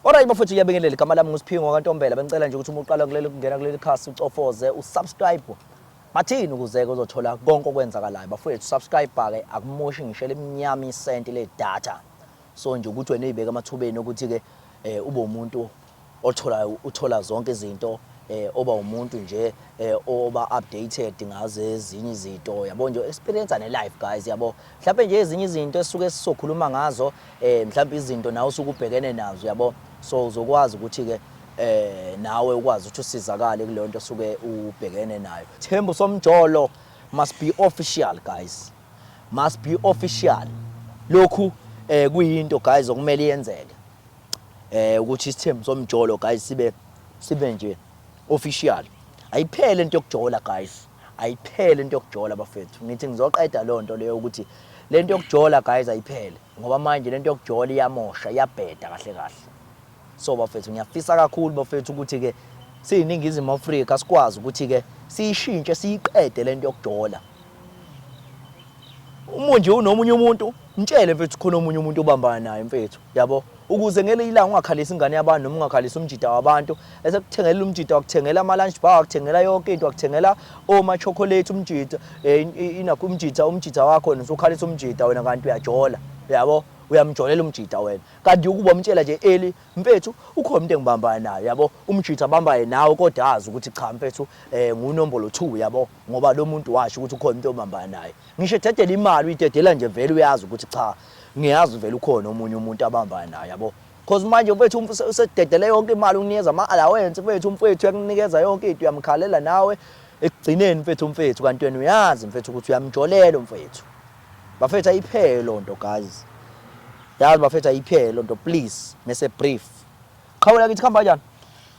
Alright bafethu ngiyabingelela igama lami nguSiphingo kaNtombela bengicela nje ukuthi uma uqala kuleli kungena kuleli khasi ucofoze usubscribe bathini ukuzeke uzothola konke okwenzakalayo bafethu subscribe ke akumushi ngisho lemnyama isenti le data so nje ukuthi wena uyibeka amathubeni ukuthi ke eh, ube umuntu othola uthola zonke izinto eh oba umuntu nje eh oba updated ngazo ezinye izinto yabo nje experience ne life guys yabo mhlawumbe nje ezinye izinto esisuke sisokhuluma ngazo um mhlawumbe izinto nawe usuke ubhekene nazo yabo so uzokwazi ukuthi-ke eh nawe ukwazi ukuthi usizakale kuleyo nto osuke ubhekene nayo Thembu somjolo must be official guys must be official lokhu eh kuyinto guys okumele yenzeke eh ukuthi isithembu somjolo guys sibe sibe nje official ayiphele into yokujola guys Ayiphele into yokujola bafethu. Ngithi ngizoqeda leyo nto leyo ukuthi le nto yokujola guys ayiphele ngoba manje le nto yokujola iyamosha iyabheda kahle kahle so bafethu ngiyafisa kakhulu bafethu ukuthi-ke siyiningizimu afrika sikwazi ukuthi-ke siyishintshe siyiqede le nto yokujola umunje unomunye umuntu Mtshele mfethu khona omunye umuntu obambana naye mfethu yabo ukuze ngele ilanga ungakhalisi ingane yabantu noma ungakhalisi umjida wabantu esekuthengelela umjida wakuthengela ama lunch bar wakuthengela yonke into wakuthengela oma chocolate umjida eh, inakho umjida umjida wakho wena usukhalisa umjida wena kanti uyajola yabo uyamjolela umjida wena kanti ukuba umtshela nje eli mfethu ukhona umuntu engibambana naye yabo umjida abambaye nawe kodwa azi ukuthi cha mfethu eh ngunombolo 2 yabo ngoba lo muntu washo ukuthi ukhona umuntu obambana naye ngisho ededela imali uyidedela nje vele uyazi ukuthi cha ngiyazi vele ukhona omunye umuntu abambana naye yabo cause manje mfethu usededele yonke imali unikeza ama-allowance mfethu umfethu uyakunikeza yonke into uyamkhalela nawe ekugcineni mfethu umfethu kanti wena uyazi mfethu ukuthi uyamjolela umfethu bafethu ayiphele loo nto guys yazi bafethu ayiphele loo nto please mese brief qhawula kithi kuhamba kanjani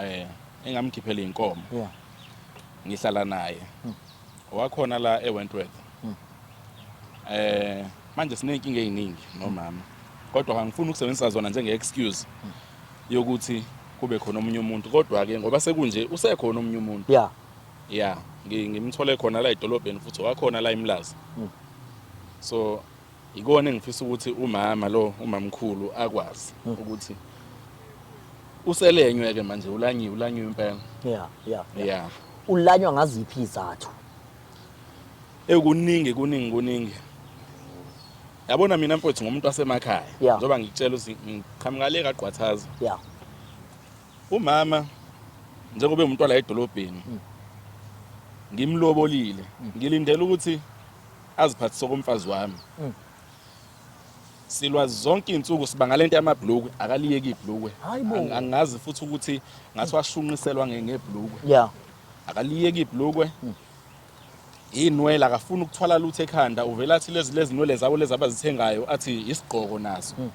Eh engamkhiphela inkomo. Yeah. Ngihlala naye. Hmm. Wakhona la eWentworth. Hmm. Eh manje sinenkinga eziningi nomama. Hmm. Kodwa angifuni ukusebenzisa zona njenge excuse hmm. yokuthi kube khona omunye umuntu kodwa ke ngoba sekunje usekhona omunye umuntu. Yeah. Yeah, ngimthole khona la edolobheni futhi wakhona la eMlazi. Hmm. So Yikona engifisa ukuthi umama lo umamkhulu akwazi hmm. ukuthi uselenywe ke manje ulanyiwe ulanyiwe impela. Yeah, yeah. Yeah. Ulanywa ngaziphi izathu? Ekuningi kuningi kuningi. Yabona mina mfowethu ngomuntu wasemakhaya njengoba ngikutshela ukuthi ngiqhamuka le kagqwathaza. Yeah. Umama njengoba umuntu wala edolobheni hmm. ngimlobolile hmm. ngilindele ukuthi aziphathise okomfazi wami mm. silwa zonke izinsuku siba ngalento yamabhlukwe akaliyeki ibhlukwe angazi futhi ukuthi ngathi washunqiselwa ngebhlukwe yeah akaliyeki ibhlukwe mm. inwele akafuni ukuthwala lutho ekhanda uvela athi lezi lezi nwele zabo lezi abazithengayo athi isigqoko nazo mm.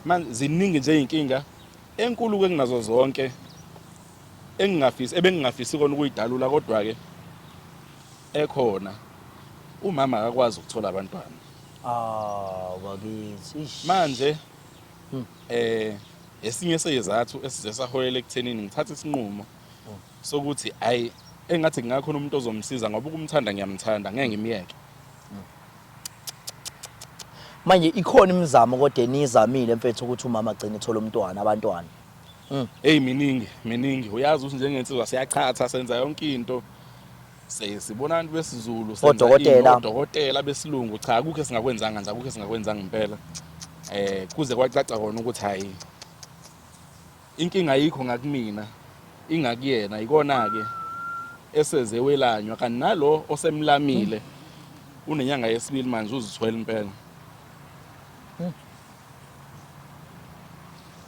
manje ziningi nje izinkinga enkulu ke kunazo zonke engingafisi ebengingafisi kona ukuyidalula kodwa ke ekhona umama akakwazi ukuthola abantwana ah bakithi manje hmm. eh esinye seyizathu esize saholela ekuthenini ngithathe isinqumo hmm. sokuthi ay engathi kungakhona umuntu ozomsiza ngoba ukumthanda ngiyamthanda ngeke ngimyeke hmm. manje ikhona imizamo kodwa enizamile mfethu ukuthi umama agcine ethola umntwana abantwana Mm. Hey miningi miningi uyazi ukuthi njengensizwa siyachatha senza yonke into sibona abantu besizulu senza odokotela besilungu cha akukho esingakwenzanga nje akukho esingakwenzanga impela eh kuze kwacaca kona ukuthi hayi inkinga ayikho ngakumina ingakuyena ikona ke eseze welanywa kanti nalo osemlamile unenyanga yesibili manje uzithwele impela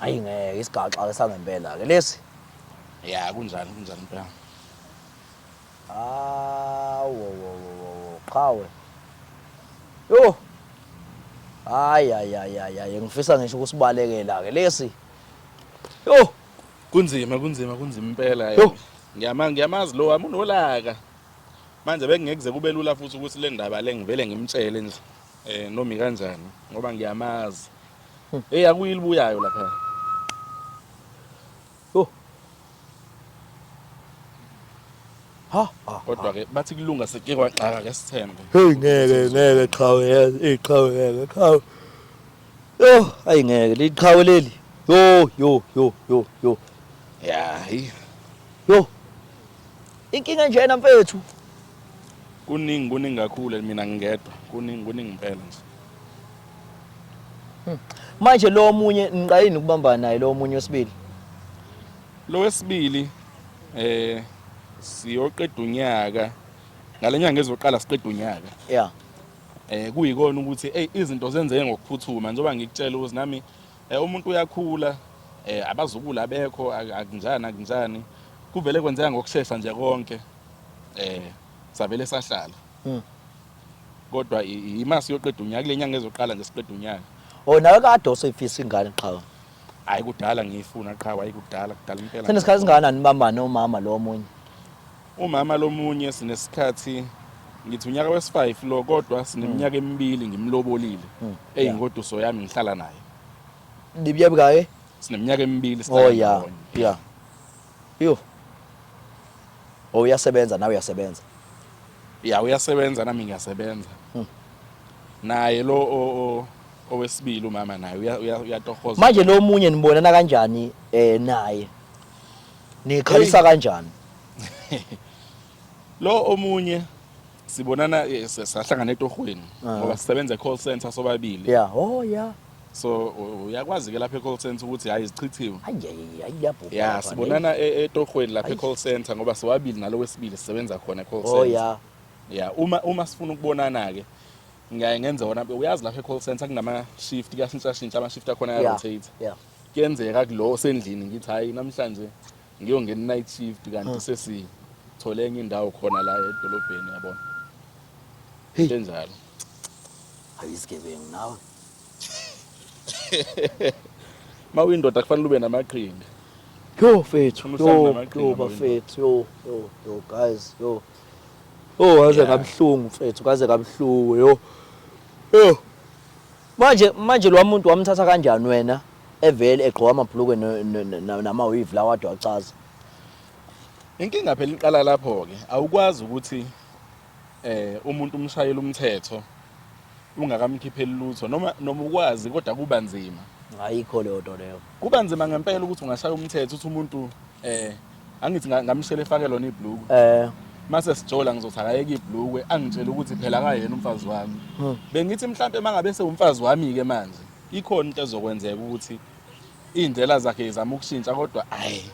Hayi ngeke isigaxa ke sangempela ke lesi. Ya kunjani kunjani impela. Ah wo wo wo wo qhawe. Yo. Hayi hayi hayi hayi ngifisa ngisho ukusibalekela ke lesi. Yo. Kunzima kunzima kunzima impela yo. Ngiyama ngiyamazi lo wami unolaka. Manje bekungekuze kube lula futhi ukuthi le ndaba le ngivele ngimtshele nje. Eh nomi kanjani ngoba ngiyamazi. Hey akuyilibuyayo lapha. Oh. Ha, ha. Kodwa ke bathi kulunga seke kwaxaka ke sithembe. Hey ngeke ngeke qhawe yazi iqhawe ngeke qhawe. Yo ayi ngeke liqhawe leli. Yo yo yo yo yo. Yeah. Yo Inkinga enjena mfethu. Kuningi kuningi kakhulu mina ngingedwa. Kuningi kuningi impela nje. Hmm. Manje lo omunye niqayini ukubamba naye lo omunye wesibili. Lo wesibili eh siyoqeda unyaka ngalenyanga ezoqala siqeda unyaka. Yeah. Eh kuyikona ukuthi hey izinto zenzeke ngokuphuthuma njengoba ngikutshela ukuthi nami Eh, umuntu uyakhula eh, abazukulu abekho ak- akunjani akunjani kuvele kwenzeka ngokushesha nje konke eh, savele sahlala Mm. kodwa i- ima siyoqeda unyaka kule nyanga ezoqala nje siqeda unyaka o nawe kade oseyifisa ingane qhawe hhayi kudala ngiyifuna qhawe hhayi kudala kudala impela senesikhathi singakanani bambane umama lo omunye Umama lomunye sinesikhathi ngithi unyaka wesi-5 lo kodwa sineminyaka hmm. emibili ngimlobolile hmm. eyingoduso yami ngihlala naye Dibya bikaye? Sineminyaka emibili sihlala Oh yeah. ndawonye. Yeah. Yo. Oh uyasebenza nawe uyasebenza. Ya uyasebenza nami ngiyasebenza. Hmm. Naye lo o- o- owesibili umama naye uya- uya- uyatohoza. Manje lo munye nibonana kanjani eh naye? Nikhalisa kanjani? Lo omunye sibonana eh, sa- sahlangana etohweni Ah. ngoba sisebenza e-call center sobabili. Yeah, oh yeah. So u- uyakwazi ke lapha e-call center ukuthi hayi zichithiwe. Hayi hayi hayi yabhubha. Yeah, lapha, sibonana e- etohweni lapha e-call center ngoba sobabili nalo wesibili sisebenza khona e-call ne? Oh center. yeah. Yeah, uma uma sifuna ukubonana ke ngiyaye ngenze wona uyazi lapha e-call center kunama shift kuyashintsha shintsha ama shift akhona Yeah. ya rotate. Yeah. kuyenzeka kulo osendlini ngithi hayi namhlanje ngiyongena night shift kanti hmm. sesithole enye indawo khona la edolobheni yabona hey enjalo ayisigebengu nawe ma uyindoda kufanele ube namaqhinga yo fethu yo yo bafethu yo yo yo guys yo oh waze kabuhlungu mfethu kaze kabuhlungu yo yo Manje manje lo muntu wamthatha kanjani wena evele egqoka amabhlukwe namawivi lawa ade wacaza inkinga phela iqala lapho-ke awukwazi ukuthi eh umuntu umshayela umthetho ungakamkhipheli lutho noma noma ukwazi kodwa kuba nzima ayikho leyo nto leyo kuba nzima ngempela ukuthi ungashaya umthetho uthi umuntu eh angithi nga- ngamshela efake lona ibhluku Eh, mase sijola ngizothi akayeke ibhlukwe angitshele ukuthi phela akayena umfazi wami Hmm. bengithi mhlawumbe mangabe sewumfazi wami-ke manje ikhona into ezokwenzeka ukuthi iy'ndlela zakhe izama ukushintsha kodwa ayi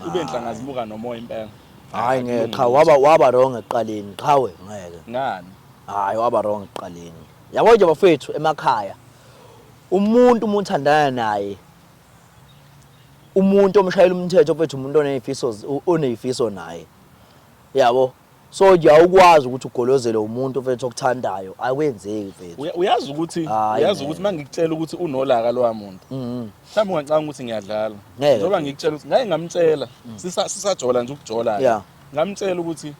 kube nhlanga zimuka nomoya impela hayi ngeke qha waba waba wrong ekuqaleni qhawe ngeke. ngani Hayi waba wrong ekuqaleni. Yabo nje bafethu emakhaya. Umuntu umuthandana naye umuntu omshayela umthetho mfethu umuntu onezifiso onezifiso naye yabo so awukwazi ukuthi ugolozele umuntu mfethu okuthandayo akwenzeki mfethu uyazi ukuthi uyazi ukuthi mangikutshela ukuthi unolaka lowa muntu mm-hmm. mhlawumbe ungacanga ukuthi ngiyadlala njengoba ngikutshela ukuthi ngeke ngamtshela mm. sisajola nje ukujola ngamtshela ukuthi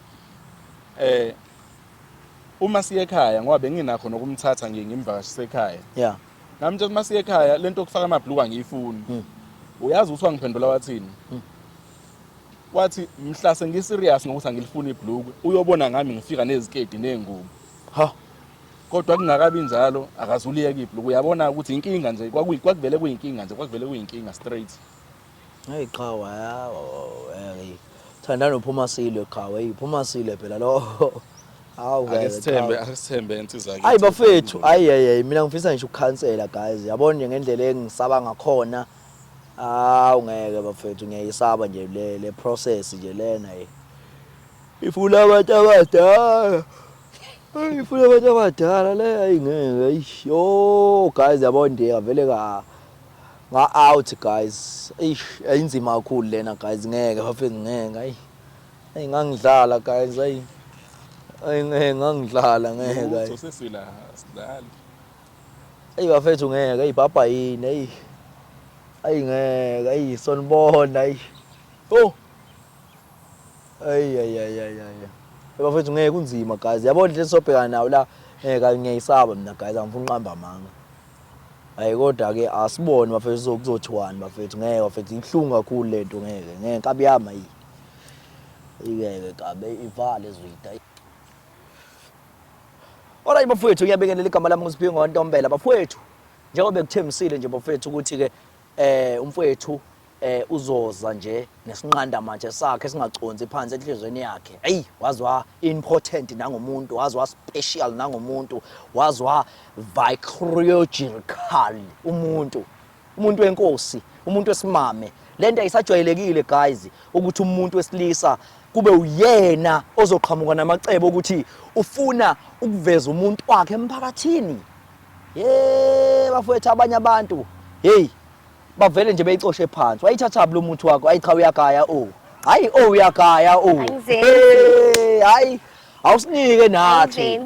eh uma siye ekhaya ngoba benginakho nokumthatha nje ngimvakashise ekhaya Nami nje uma siye ekhaya lento okufaka amabhluku angiyifuni. Hmm. Uyazi ukuthi wangiphendula wathini? Hmm. Wathi mhla sengi serious ngokuthi angilifuni ibhluku uyobona ngami ngifika nezikedi nengubo. Ha. Kodwa kungakabi njalo akazuliyeka ibhluku uyabona ukuthi inkinga nje kwakuvele kuyinkinga nje kwakuvele kuyinkinga straight. Hey qhawe hawu hey thandana uphuma sile qhawe hey phuma sile phela lo hawu ngeke Akesithembe qhawe. akesithembe insizwa yakhe. Ayi bafethu ayi hey hey mina ngifisa ngisho ukukhansela guys yabona nje ngendlela engisaba ngakhona hawu ngeke bafethu ngiyayisaba nje le le process nje lena hey ifuna abantu abadala Ay, ifuna abantu abadala le ayi ngeke ayi yo guys yabona nje avele ka Nga out guys. Eish, ayinzima kakhulu lena guys. Ngeke bafethu ngeke. Ayi. Ayi ngangidlala guys. Ayi. Ayi ngeke ngangidlala ngeke. Lutho sesila sidlali. Ayi bafethu ngeke. Ayi baba yini. Ayi. Ayi ngeke. Ayi sonibona. Ayi. Oh. Ayi ayi ayi ayi. ayi. Bafethu ngeke kunzima guys. Yabona into esobhekana nayo la. Ngeke ngiyayisaba mina guys. Angifuni qamba amanga. Hayi kodwa ke asibone bafethu kuzothiwani bafethu ngeke bafethu ibuhlungu kakhulu lento ngeke ngeke nkabi yami ayi ingeke kabe ivale zwida Alright bafethu ngiyabingelela igama lami nguSiphingo Ntombela bafethu njengoba bekuthembisile nje bafethu ukuthi ke eh umfethu eh uzoza nje nesinqanda manje sakhe singaconsi phansi enhlizweni yakhe hey wazwa important nangomuntu wazwa special nangomuntu wazwa vicrogeral umuntu umuntu wenkosi umuntu wesimame lento ayisajwayelekile guys ukuthi umuntu wesilisa kube uyena ozoqhamuka namacebo ukuthi ufuna ukuveza umuntu wakhe emphakathini ye bafowethu abanye abantu hey bavele nje beyicoshe phansi wayithatha blo muthi wakho ayi cha uyagaya o hayi o uyagaya o hayi awusinike nathi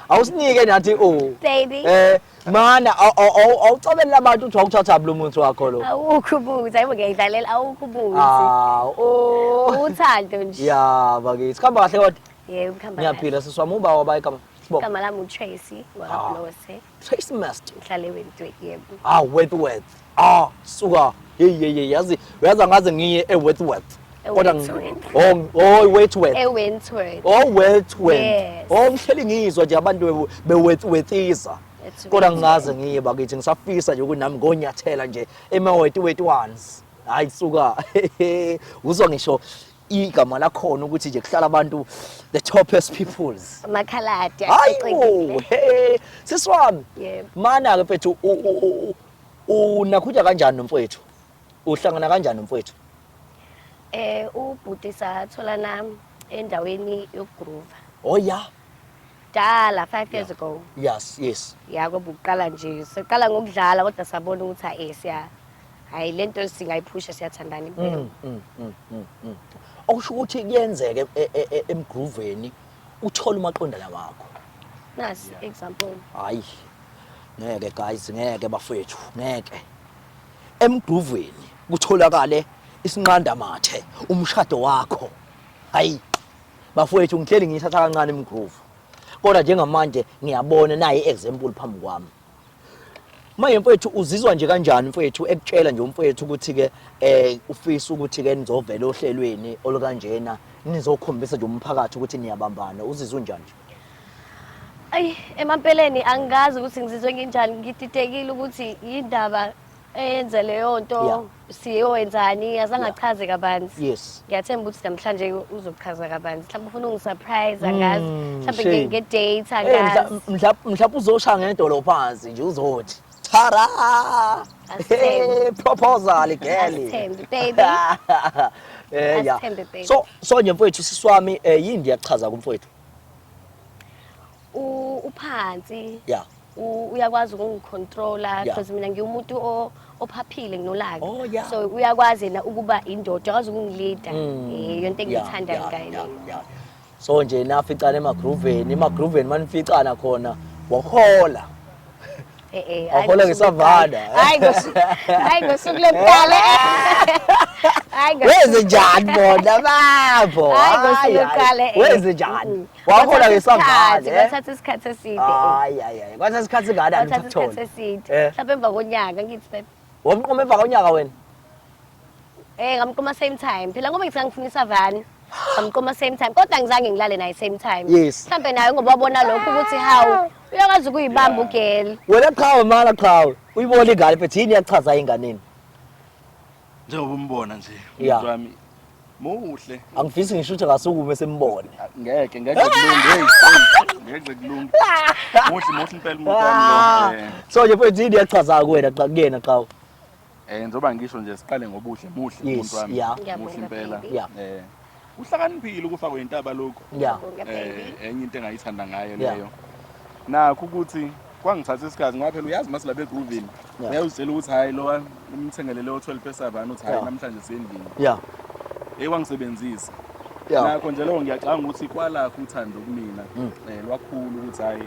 awusinike nathi o baby eh mana awucabelele abantu ukuthi wawuthatha blo muthi wakho lo awukho ubuzi ayibo ngiyidlalela awukho ubuzi ah o uthando nje ya bakithi khamba kahle kodwa yebo khamba ngiyaphila siswami uba wabayikama Igama lami uTracy waKaBlose. Tracy Master. Ngihlale wentwe yebo. Ah Wentworth. Ah suka. Hey hey hey yazi uyazi angaze ngiye eWentworth. Kodwa eWentworth. oh oh Wentworth. eWentworth. Oh Wentworth. Yes. Oh ngihleli ngizwa nje abantu bewu- beWentworthisa. It's Kodwa Wentworth. ngingaze ngiye bakithi ngisafisa nje ukuthi nami ngonyathela nje emawetiweti ones. Hayi suka. Uzwa ngisho igama lakhona ukuthi nje kuhlala abantu the topest peoples makhaladi hayibo hey siswami yebo mana ke mfethu unakhutha kanjani nomfowethu uhlangana kanjani nomfowethu eh ubhuti sathola nami endaweni yokugroover oh yeah dala 5 years ago yes yes yako buqala nje siqala ngokudlala kodwa sabona ukuthi ayesiya hayi le nto singayiphusha siyathandana impela Mm, mm, mm, mm, mm. okusho ukuthi kuyenzeke e- e- e- emgruveni uthole umaqondana wakho nasi example hayi ngeke guys ngeke bafethu ngeke emgruveni kutholakale isinqandamathe umshado wakho hayi bafowethu ngihleli ngiyithatha kancane imgroove kodwa njengamanje ngiyabona nayi i-example phambi kwami manje mfowethu uzizwa nje kanjani mfowethu ekutshela nje umfowethu ukuthi-ke um ufisa ukuthi-ke nizovela ohlelweni olukanjena nizokhombisa nje umphakathi ukuthi niyabambana uzizwa unjani nje ayi emampeleni angikazi ukuthi ngizizwe nginjani ngididekile ukuthi yindaba eyenze leyo nto Yeah. siyoyenzani azange Yeah. achaze kabanzi yes ngiyathemba ukuthi namhlanje uzochaza kabanzi mhlawumbe ufuna ungisurprise angazi Mm, mhlawumbe shame. nge- nge-date Eh, mhla- angazi mhla- mhlawumbe uzoshaya ngedolo phansi nje uzothi tara Asithembe. Eh, proposal geli Asithembe, baby. Eh, yeah. Asithembe, baby. so so nje mfowethu siswami eh, yini ndiyakuchaza kumfowethu u- uphansi Yeah. u- uyakwazi ukungicontrola Yeah. because mina ngiwumuntu o- ophaphile nginolaka Oh, yeah. so uyakwazi yena ukuba indoda uyakwazi ukungilida Mm. Eh, yonto Yeah, engiyithandayo yeah, ngaye yeah, leyo. yeah. so nje naficana emagruveni emagruveni manificana khona wahola Eh, eh, hhayi Wahola ngosuku ngesavana. lokuqala. Hhayi ngosuku- hhayi ngosuku lokuqala Hhayi ngosuku- wenze njani bona babo Hhayi, ngosuku Hhayi, lokuqala, hhayi. eh. wenze njani Mm. wahola ke sangale kwathatha isikhathi eside hayi hayi hayi kwathatha isikhathi ngane angisatholi isikhathi eside eh. mhlawumbe emva konyaka ngithi babe wamqoma emva konyaka wena eh ngamqoma same time phela ngoba ngithi ngifuna isavani ngamqoma same time kodwa ngizange ngilale naye same time mhlawumbe naye ngoba wabona lokho ukuthi hawu uyakwazi ukuyibamba ugeli wena qhawe mala qhawe uyibona ingane phethe yini yachaza inganeni njengoba umbona nje Yeah. umuntu wami muhle angifisi ngisho ukuthi ngasukume sembone ngeke ngeke kulunge hey, hey, ngeke kulunge muhle muhle impela umuntu Ah. wami lo, eh. so nje mfethu yini yachaza kuwena xa kuyena xa u- eh ngizoba ngisho nje siqale ngobuhle muhle Yes, umuntu wami yeah. muhle Ngiyabonga, impela baby. Yeah. eh uhlakaniphile ukufa kwentaba lokhu yeah. eh, enye into engayithanda ngayo yeah. leyo nakho ukuthi kwangithatha isikhathi ngoba phela uyazi mase labe groovini yeah. uyawuzitshela ukuthi hayi lowa umthengelele o-12 pesavani uthi hayi yeah. namhlanje sendlini yeah. eyi wangisebenzisa yeah. nakho nje leyo ngiyacanga ukuthi kwalakho uthando kumina mm. um eh, lwakhulu ukuthi hayi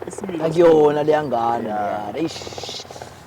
isimilo akuyona leyangane yeah. yeah.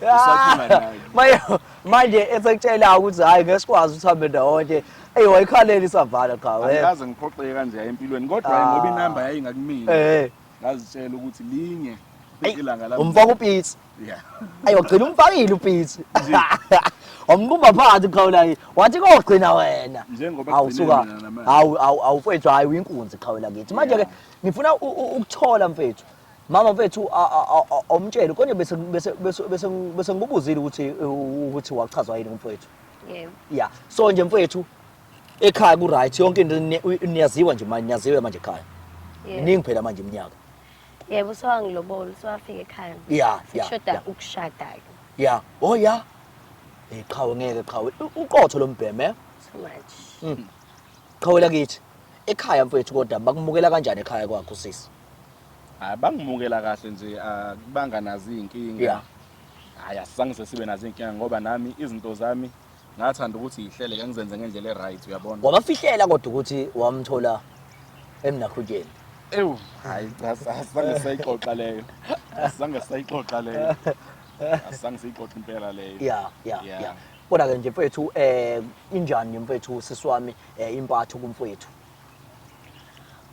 Usakhula naye. Maye manje esekutshela ukuthi hayi ngeke sikwazi ukuthi hambe ndawonye. Ey wayikhaleli isavala cha wena. Angikaze ngiphoxeke kanje empilweni kodwa Ah. ngoba inamba yayingakumina. Eh. Ngazitshela ukuthi linye Ey, ilanga lami. Umfaka upitsi. Yeah. Ayi wagcina umfakile upitsi. Wambumba phansi qhawulayi. Wathi kogcina wena. Njengoba Hawu kugcine suka. mina namanje. Hawu hawu hawu mfethu hayi uyinkunzi qhawula kithi. Manje ke Yeah. ngifuna u- u- ukuthola mfethu. Mama mfethu awumtsheli konje bese bese bese bese ngibuzile ukuthi ukuthi wachazwa yini umfowethu. Yebo. Yeah. So nje mfowethu ekhaya ku right yonke into niyaziwa nje manje niyaziwe manje ekhaya. Iningi phela manje iminyaka. Yebo sewangilobole sewafika ekhaya. Yeah. Sishoda ukushada ke. Yeah. Oh yeah. Eh qhawe ngeke qhawe uqotho lombheme. Eh? So much. Mm. Qhawela kithi. Ekhaya mfowethu kodwa bakumukela kanjani ekhaya kwakho sisi? Hayi bangimukela kahle nje akubanga nazi izinkinga. Yeah. Hayi asizange sesibe nazi izinkinga ngoba nami izinto zami ngathanda ukuthi yihlele ke ngizenze ngendlela eright uyabona. Wabafihlela kodwa ukuthi wamthola emnakhutsheni. Ewu hayi cha asizange sayixoxa leyo. Asizange sayixoxa leyo. Asizange siyixoxe impela leyo. Yeah, yeah, Yeah. yeah. Kodwa ke nje mfethu eh injani mfethu siswami eh impatho kumfethu.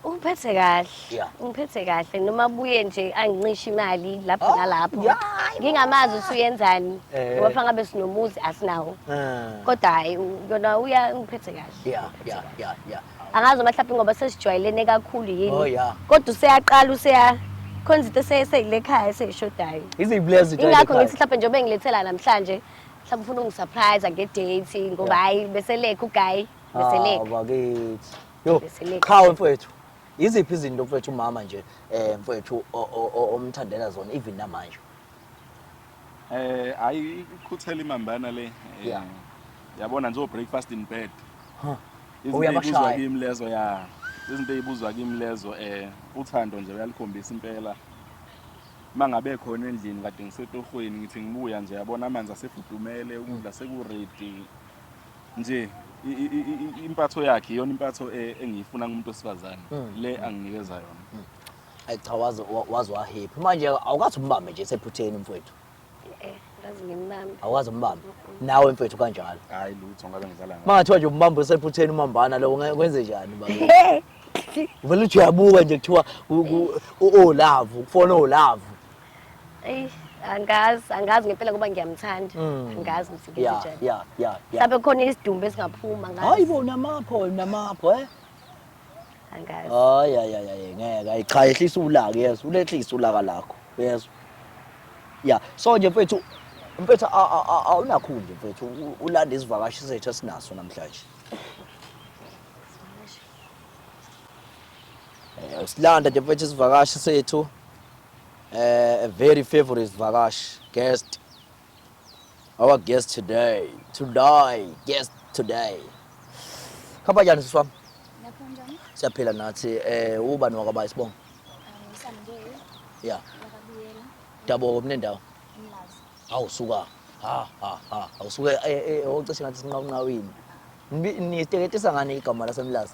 Ungiphethe kahle. Yeah. Ungiphethe kahle noma buye nje angincisha imali lapho Oh, nalapho. yeah, hayi bo. Ngingamazi ukuthi uyenzani. Eh. Ngoba fanele ngabe sinomuzi asinawo. Eh. Kodwa hayi u- yona uya ungiphethe kahle. Yeah, yeah, yeah, yeah. Angazi uma mhlawumbe ngoba sesijwayelene kakhulu yini. Oh, yeah. Kodwa useyaqala useya khona izinto ese- eseyile khaya eseyishodayo. Izibulezi zinto Ingakho ezikhaya. ngithi mhlawumbe njengoba engilethela namhlanje mhlawumbe ufuna ungisurprise nge-date ngoba hayi beselekha ugayi. Beseleka. Ah, bakithi. Yo, Beseleka. qhawe mfowethu. Iziphi izinto mfowethu umama nje eh mfowethu o- o- o- omthandela zona even namanje. Eh hayi ikhuthela imambana le. Eh, Yeah. Yabona nje breakfast in bed. Huh. Izinto Uyabashaya. ezibuzwa kimi lezo ya. Izinto ezibuzwa kimi lezo eh uthando nje uyalikhombisa impela. Mangabe khona endlini kade ngisetohweni ngithi ngibuya nje yabona amanzi asefudumele ukudla seku ready nje impatho yakhe iyona impatho e, engiyifuna kumuntu wesifazane hmm. le anginikeza yona hmm. ayi cha waze waze wahephi manje awukathi umbambe nje sephutheni mfowethu eh, awukazi umbambe nawe mfethu kanjalo hayi lutho ngabe ngidlala ngayo mangathiwa nje umbambe usephutheni umambana lo kwenze njani baba vele uthi uyabuka nje kuthiwa o-love ukufona o-love Eyi, angazi angazi ngempela ngoba ngiyamthanda Mm. angazi ukuthi ya ngizinjani ya ya ya mhlawumbe kukhona isidumbu esingaphuma hayi angazi bo namapho namapho eh angazi hayi hayi hayi, hayi ngeke hayi cha yehlisa ulaka yezwa ulehlisa ulaka lakho yezwa ya so nje mfethu mfethu a- a- a- awunakhundla mfethu u- ulanda isivakashi sethu esinaso namhlanje Eh, usilanda nje mfethu isivakashi sethu eh, a very favorite sivakashi guest our guest today today guest today khamba njani siswami siyaphila nathi eh ubani wakabaya sibonga ya daboka kunendawo hawu suka ha ha ha awusuke eh, eh, eh, ocishe ngathi sinqawunqawini niteketisa ngani igama lasemlazi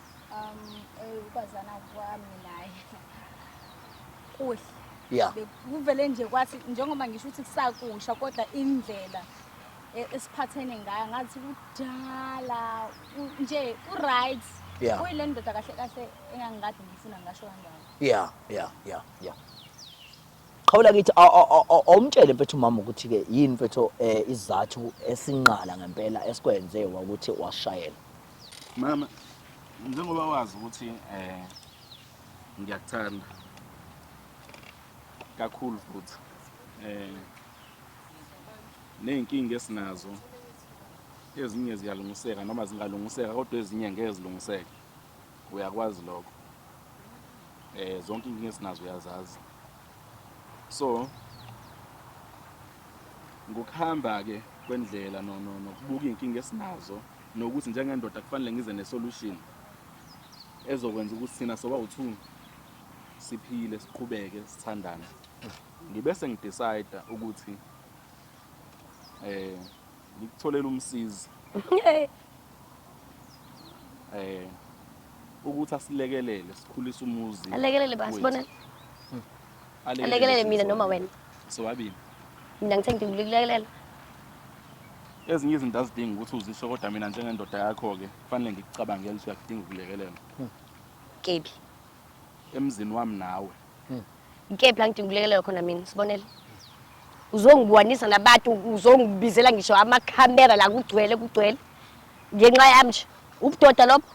ukwazana kwami naye kuhle ya kuvele nje kwathi njengoba ngisho ukuthi kusakusha kodwa indlela e- esiphathene ngayo ngathi kudala u- nje u-right Yeah. uyile ndoda kahle kahle engangikade ngifuna ngasho kanjalo ya ya ya ya qhawula kithi aw- aw- aw- aw- awumtshele mfethu umama ukuthi-ke yini mfethu um isizathu esinqala ngempela esikwenze wakuthi washayela Mama, njengoba wazi ukuthi eh ngiyakuthanda kakhulu futhi eh nezinkinga esinazo ezinye ziyalungiseka noma zingalungiseka kodwa ezinye ngeke zilungiseke uyakwazi lokho eh zonke inkinga esinazo uyazazi so ngokuhamba ke kwendlela nokubuka izinkinga esinazo nokuthi njengendoda kufanele ngize nesolution ezokwenza ukuthi thina sobawu-two siphile siqhubeke sithandane ngibe sengidecide ukuthi eh ngikutholela umsizi eh ukuthi asilekelele sikhulise umuzi alekelele bani wethu. sibonele Alekelele mina noma wena. Sobabili. Mina ngithe ngikulekelela. Ezinye izinto azidingi ukuthi uzisho kodwa mina njengendoda yakho-ke kufanele ngikucabangele ukuthi uyakudinga ukulekelela. Hmm. Kebi. Emzini wami nawe. Hmm. Ngikephi la ngidinga ukulekelela khona mina sibonele. Uzongibuhanisa nabantu uzongibizela ngisho amakhamera la kugcwele kugcwele ngenxa yami nje ubudoda lobo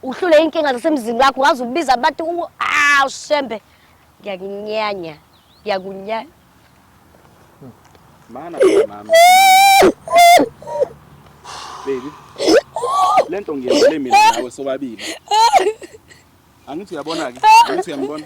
Uhlule inkinga zasemzini wakho waze ubiza abantu u ah ushembe. Ngiyakunyanya. Ngiyakunyanya. Mana mama. Baby. Lento ngiyenzele mina nawe sobabili. Angithi uyabona ke? Angithi uyambona?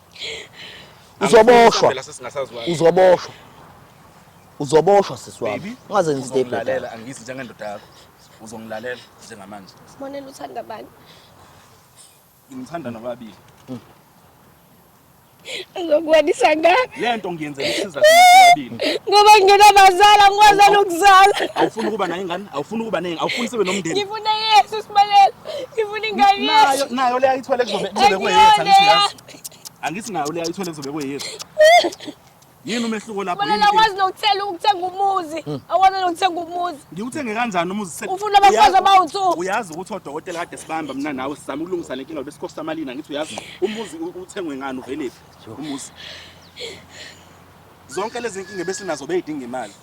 uzoboshwa uzoboshwa uzoboshwa sisi wami ungaze ngizidebhela angisi njengendoda yakho uzongilalela njengamanje sibonela uthanda bani ngimthanda nababili hmm. Ngizokwanisa ngani? Lento ngiyenzela isiza sibabili. Ngoba ngingena bazala ngikwazi ukuzala. Awufuni ukuba nayo ingane? Awufuni ukuba nengi? Awufuni sibe nomndeni? Ngifuna Yesu sibalele. Ngifuna ingane yethu. Nayo leya ithwele kuzobe kuzobe kweyethu angithi. Angithi nayo leya ithwele kuzobe kweyethu. Yini umehluko lapho? Mina ngakwazi nokutshela ukuthenga umuzi. Hmm. Awona nokuthenga umuzi. Ngiwuthenge kanjani umuzi sek? Ufuna abafazi abawuthu. Uyazi ukuthi odokotela kade sibamba mina nawe sizama ukulungisa lenkinga besikhosta malini angithi uyazi umuzi uthengwe ngani uveliphi umuzi. Zonke lezi nkinga besinazo beyidinga imali.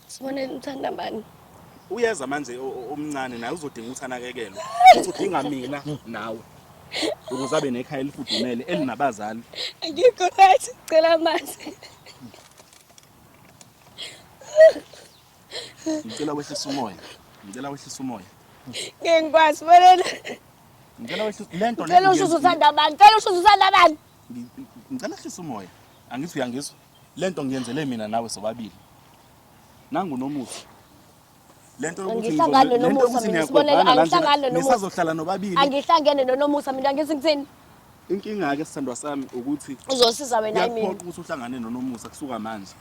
Sibonele uthanda bani? Uyeza manje omncane naye uzodinga ukuthi anakekelwe. Uthi udinga mina nawe. Ukuze abe nekhaya elifudumele elinabazali. Akikho right, cela amanzi. Ngicela wehlisa umoya. Ngicela wehlisa umoya. Ngeke ngikwazi bonela. Ngicela wehlisa lento le. Ngicela ushushu uthanda bani? Ngicela ushushu uthanda bani? Ngicela wehlisa umoya. Angithi uyangizwa? Lento ngiyenzele mina nawe sobabili. Nangu nomusa. Lento yokuthi ngihlangane nomusa mina sibonele angihlangane nomusa. Ngisazohlala nobabili. Angihlangene nonomusa mina ngithi ngithini? Inkinga ke sithandwa sami ukuthi uzosiza wena yimi. Ngiyaphoqa ukuthi uhlangane nonomusa kusuka manje.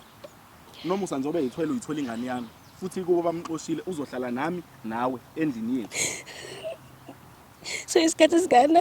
Nomusa njengoba yithwele uyithola ingane yami futhi kubo bamxoshile uzohlala nami nawe endlini yethu. So isikhathi sikanani?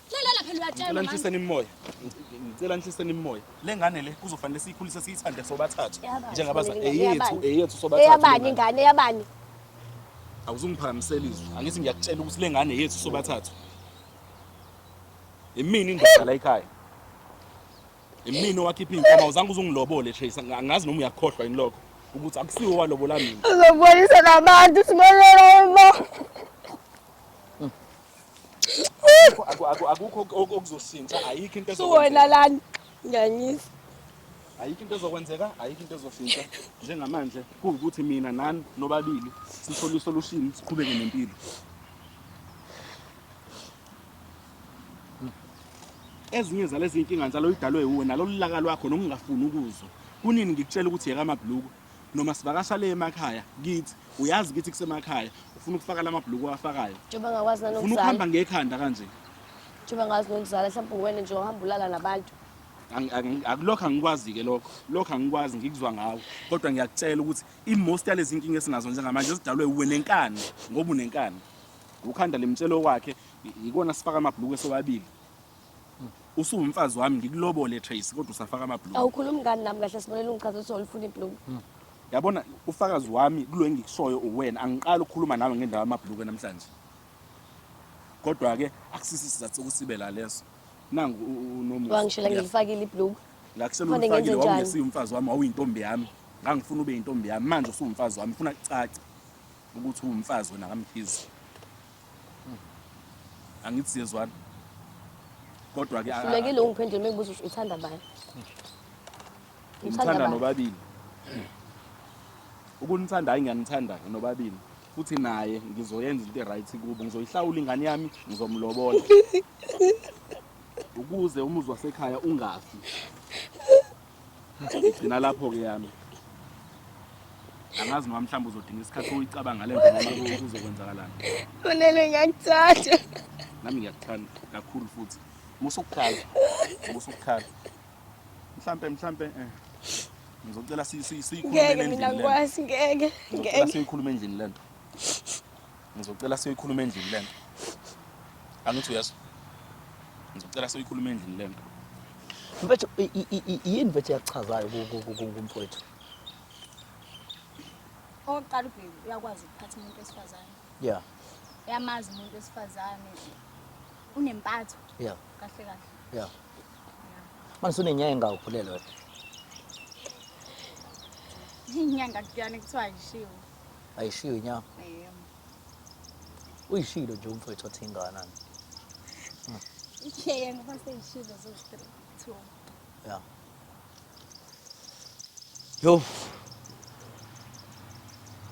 Lalela phela uyatshelwa. Ngicela nihliseni imimoya. Ngicela nihliseni imimoya. Le ngane le kuzofanele siyikhulise siyithande sobathathu. Njengabaza eyethu eyethu sobathathu. Eyabani ingane eyabani? Awuzungiphakamisela izwi. Angithi ngiyakutshela ukuthi le ngane yethu sobathathu. Imini indoda la ekhaya. Imini owakhipha inkomo awuzange uzungilobole Trace. Angazi noma uyakhohlwa yini lokho ukuthi akusiwo walobola mina. Uzobonisa nabantu simelela uma. akukho okuzoshintsha ayikho into suwena lani ngiyanyisa ayikho into ezokwenzeka ayikho into ezoshintsha njengamanje kuwukuthi mina nani nobabili sithole isolution siqhubeke nempilo ezinye zalezi nkinga njalo idalwe wuwe nalolu laka lwakho nokungafuni ukuzwa kunini ngikutshela ukuthi yeka amabhluku noma sivakasha le emakhaya kithi uyazi kithi kusemakhaya ufuna ukufaka lamabhuluku awafakayo njengoba ngakwazi ufuna nanokuzala ukuhamba ngekhanda kanje njengoba ngakwazi nokuzala mhlawumbe uwena nje ohamba ulala nabantu Angi- angi- akulokho angikwazi-ke lokho lokho angikwazi ngikuzwa ngawo kodwa ngiyakutshela ukuthi i-most yalezi nkinga esinazo njengamanje zidalwe uwe nenkani ngoba unenkani ukhanda limtshelo wakhe i- ikona sifaka amabhuluku esewabili usuwumfazi wami ngikulobole Tracy kodwa usafaka amabloom awukhulumi ngani nami kahle sibonela ungichaza ukuthi ulifuna ibloom hmm. yabona ufakazi wami kulo engikushoyo uwena angiqali ukukhuluma nawe ngendawo yamabhluku namhlanje kodwa-ke akusisi isizathu sokusibe la leso nangu unomwangishela ngilifakile ibhluku la kuselulifakile wawungesiye umfazi wami wawuyintombi yami ngangifuna ube yintombi yami manje usuwumfazi wami funa kucace ukuthi uwumfazi wena kamkhizi angithi siyezwana kodwa ke hlulekile ungiphendule mengibuza ukuthi uthanda bani ngithanda nobabili ukunithanda hayi ngiyanithanda nobabili futhi naye ngizoyenza into e-right kubo ngizoyihlawula ingane yami ngizomlobola ukuze umuzi wasekhaya ungafi Ngigcina lapho-ke yami. Angazi noma mhlawumbe uzodinga isikhathi uyicabanga le nto noma kuzokwenzakalani. Unene ngiyakuthanda. Nami ngiyakuthanda kakhulu futhi. Musa ukukhala. Musa ukukhala. Mhlampe mhlampe eh ngizocela siyikhulume endlini. Ngeke mina ngikwazi ngeke. Ngeke siyikhulume endlini lento. Ngizocela siyoyikhuluma endlini lento. Angithi uyezwa? Ngizocela siyoyikhuluma endlini lento. Mfethu i- i- i- i- yini mfethu yakuchazayo ku- ku- ku- ku- kumfowethu? Okokuqala ubheki uyakwazi ukuphatha umuntu wesifazane. Yeah, Uyamazi umuntu wesifazane. Unempatho yeah, kahle kahle. yeah. Manje usunenyanga engawukhulelwe wena. Inyanga kuyani kuthiwa ayishiwo. ayishiyo inyama Ayiyona. uyishilo nje umfowethu othi ingane ani Ishiyeni uma seyishilo ziwu-three, two. ya yo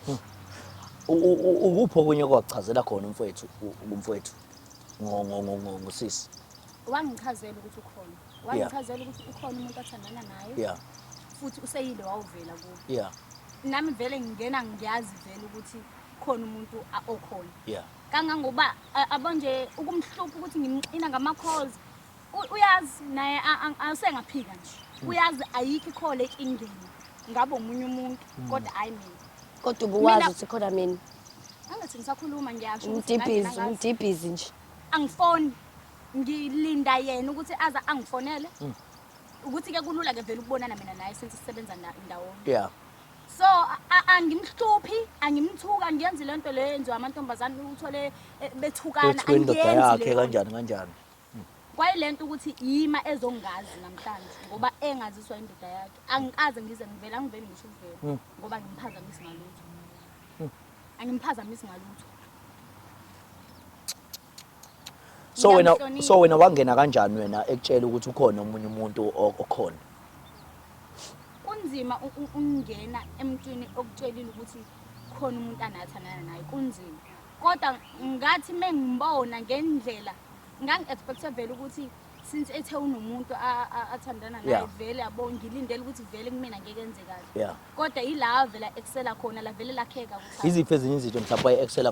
Hmm. U- u- u- ukuphi okunye kwakuchazela khona umfowethu u- umfowethu ngo- ngo- ngo- ngo- ngosisi Wangichazela ukuthi ukhona. Wangichazela ukuthi ukhona umuntu athandana naye. Yeah. Futhi useyile wawuvela kubo. Yeah. Nami vele ngingena ngiyazi vele ukuthi khona umuntu okhona. Yeah. Kangangoba abonje ukumhlupha ukuthi ngimqina ngama calls. Uyazi naye asengaphika nje. Hmm. Uyazi ayikho ikhole ingeni. Ngabe umunye umuntu hmm. kodwa hayi mina. Kodwa ubuwazi ukuthi khona mina. Angathi ngisakhuluma ngiyasho. Umdibhizi, umdibhizi nje. angifoni ngilinda yena ukuthi aza angifonele mm. ukuthi ke kulula ke vele ukubonana mina naye since sisebenza ndawonye yeah so angimhluphi angimthuka ngiyenzi lento le yenziwa amantombazane uthole eh, bethukana angiyenzi le kanjani kanjani mm. kwayilento ukuthi yima ezongazi namhlanje ngoba engaziswa indoda yakhe angikaze ngize ngivela ngivele ngisho uvela mm. ngoba ngimphazamisi ngalutho angimphazamisi ngalutho so wena Ngiyamhlonipha. so wena wangena kanjani wena ekutshela ukuthi ukhona omunye umuntu o- okhona kunzima u- u- ukungena emntwini okutshelile ukuthi khona umuntu anathandana naye kunzima kodwa ngathi mengimbona ngendlela ngangi-expecte vele ukuthi since ethe unomuntu athandana naye vele yabo ngilindele ukuthi vele kumina ngeke enze kahle kodwa yila vele excela khona la vele lakheka ukuthi iziphi ezinye izinto mhlawumbe waye excela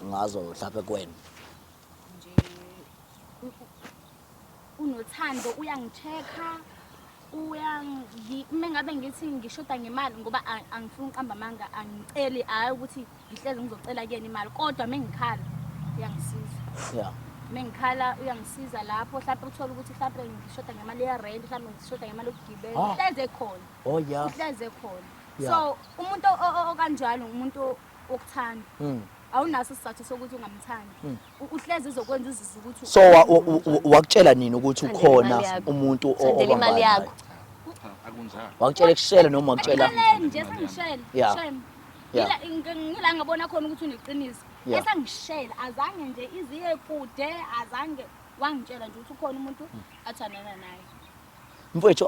ngazo mhlawumbe kuwena nje unothando uyangichecka uyangi uma ngabe ngithi ngishoda ngemali ngoba a- angifuni uqamba amanga angiceli hhayi ukuthi ngihlezi ngizocela kuyena imali kodwa uma ngikhala uyangisiza ya uma ngikhala uyangisiza lapho hlampe uthole ukuthi hlampe ngishoda ngemali yerenti hlampe ngishoda ngemali yokugibela Ah. uhlezi ekhona oh ya uhlezi ekhona Ya. so umuntu o- o- okanjalo ngumuntu wokuthanda Mm. awunaso isizathu sokuthi ungamthandi Mm. uhlezi ezokwenza uzizwe ukuthi so wakutshela nini ukuthi ukhona umuntu obamba imali yakho wakutshela ekushela noma wakutshela nje sengishela yeah ngila ngabona khona ukuthi uneqiniso esengishela azange nje iziye kude azange wangitshela nje ukuthi ukhona umuntu hmm. athandana naye mfethu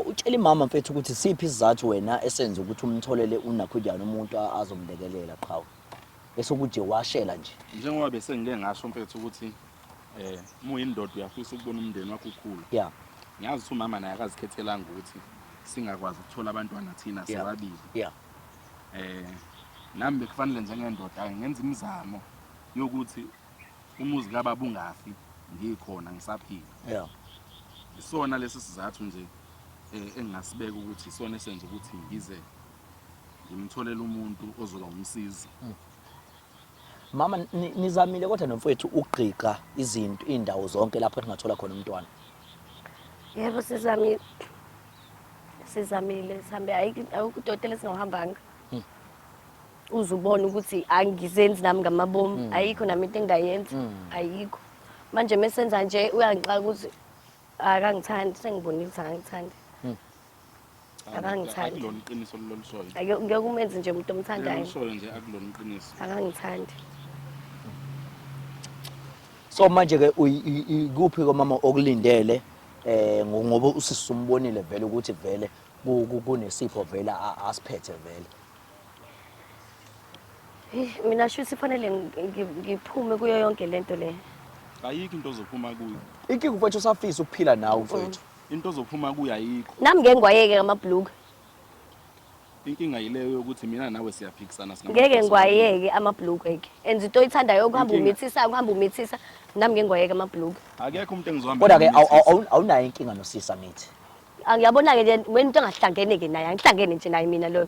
utshela imama mfethu ukuthi siphi isizathu wena esenza ukuthi umtholele unakhudiyana umuntu azomlekelela qhawe bese ukujewashela nje njengoba bese ngike ngasho mfethu ukuthi eh uma uyindoda uyafisa ukubona umndeni wakho ukhula yeah ngiyazi ukuthi umama naye akazikhethelanga ukuthi singakwazi ukuthola abantwana thina Yeah. sobabili yeah eh nami bekufanele njengendoda ngenza imizamo yokuthi umuzi kababa ungafi ngikhona ngisaphila yeah isona lesi sizathu nje eh, engingasibeka ukuthi isona esenza ukuthi ngize ngimtholele umuntu ozoba umsizi mm. mama nizamile kodwa nomfowethu ukugqiqa izinto iy'ndawo zonke lapho ningathola khona umntwana yebo sizamile sizamile sihambe ayikudotela singawuhambanga mm. uze ubone ukuthi angizenzi nami ngamabomu mm. ayikho nami into engingayenza ayikho manje mesenza nje uyangixaka ukuthi akangithandi sengibonile ukuthi akangithandi Akangithandi. Akulona iqiniso lolushoyo. Ake ngeke umenze nje umuntu omthandayo. Lolushoyo nje akulona iqiniso. Akangithandi. So manje ke ikuphi komama okulindele eh ngoba usisi umbonile vele ukuthi vele kunesipho vele asiphethe vele. Eh, mina shuthi fanele ngiphume kuyo yonke lento le. Ayikho into ozophuma kuyo. Inkinga mfowethu usafisa ukuphila nawe mfowethu. Into ozophuma kuyo ayikho. Nami ngeke ngiwayeke amabhluku. Inkinga yileyo yokuthi mina nawe siyaphikisana singama. Ngeke ngiwayeke amabhluku eke. And into oyithandayo ukuhamba Inkinga. umithisa, ukuhamba umithisa. Nami ngeke ngiwayeke amabhluku. Akekho umuntu engizohamba Kodwa ke naye awu- umethisa. awu- awunayo inkinga nosisi angithi. Angiyabona-ke nje wena into engahlangene-ke naye, angihlangene nje naye mina loyo.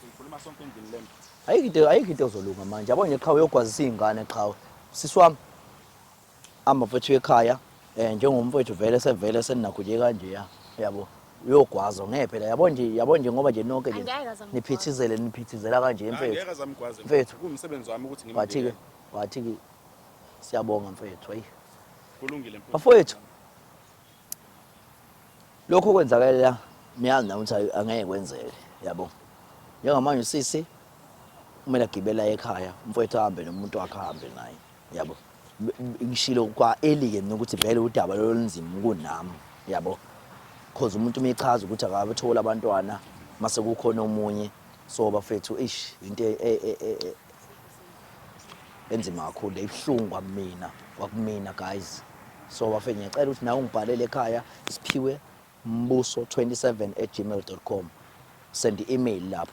Sikhuluma sonke endlini lento. Ayikho into ayikho into ozolunga manje. Yabo nje qha uyogwazisa izingane qha. Sisi wami. Amba mfethu ekhaya. Eh njengomfethu vele sevele seninakho nje kanje ya. Yabo. Uyogwaza ngeke phela yabo nje yabo nje ngoba nje nonke nje niphithizele niphithizela kanje mfethu. Ngeke azamgwaze. Mfethu kumsebenzi wami ukuthi ngimbe. Wathi ke wathi ke siyabonga mfethu. Hayi. Kulungile mfethu. Bafowethu. lokho okwenzakalela niyazi na ukuthi angeke kwenzeke yabo njengamanje usisi kumele agibela ekhaya umfowethu ahambe nomuntu wakhe ahambe naye yabo ngishilo kwa elike mina ukuthi vele udaba lolunzima kunami yabo cause umuntu umechaza ukuthi akabethola abantwana mase kukhona omunye so bafethu ish into e, e, e, enzima kakhulu le ibuhlungu kwamina kwakumina guys so bafe ngiyacela ukuthi nawe ungibhalele ekhaya isiphiwe mbuso 27 at gmail com send i-email lapho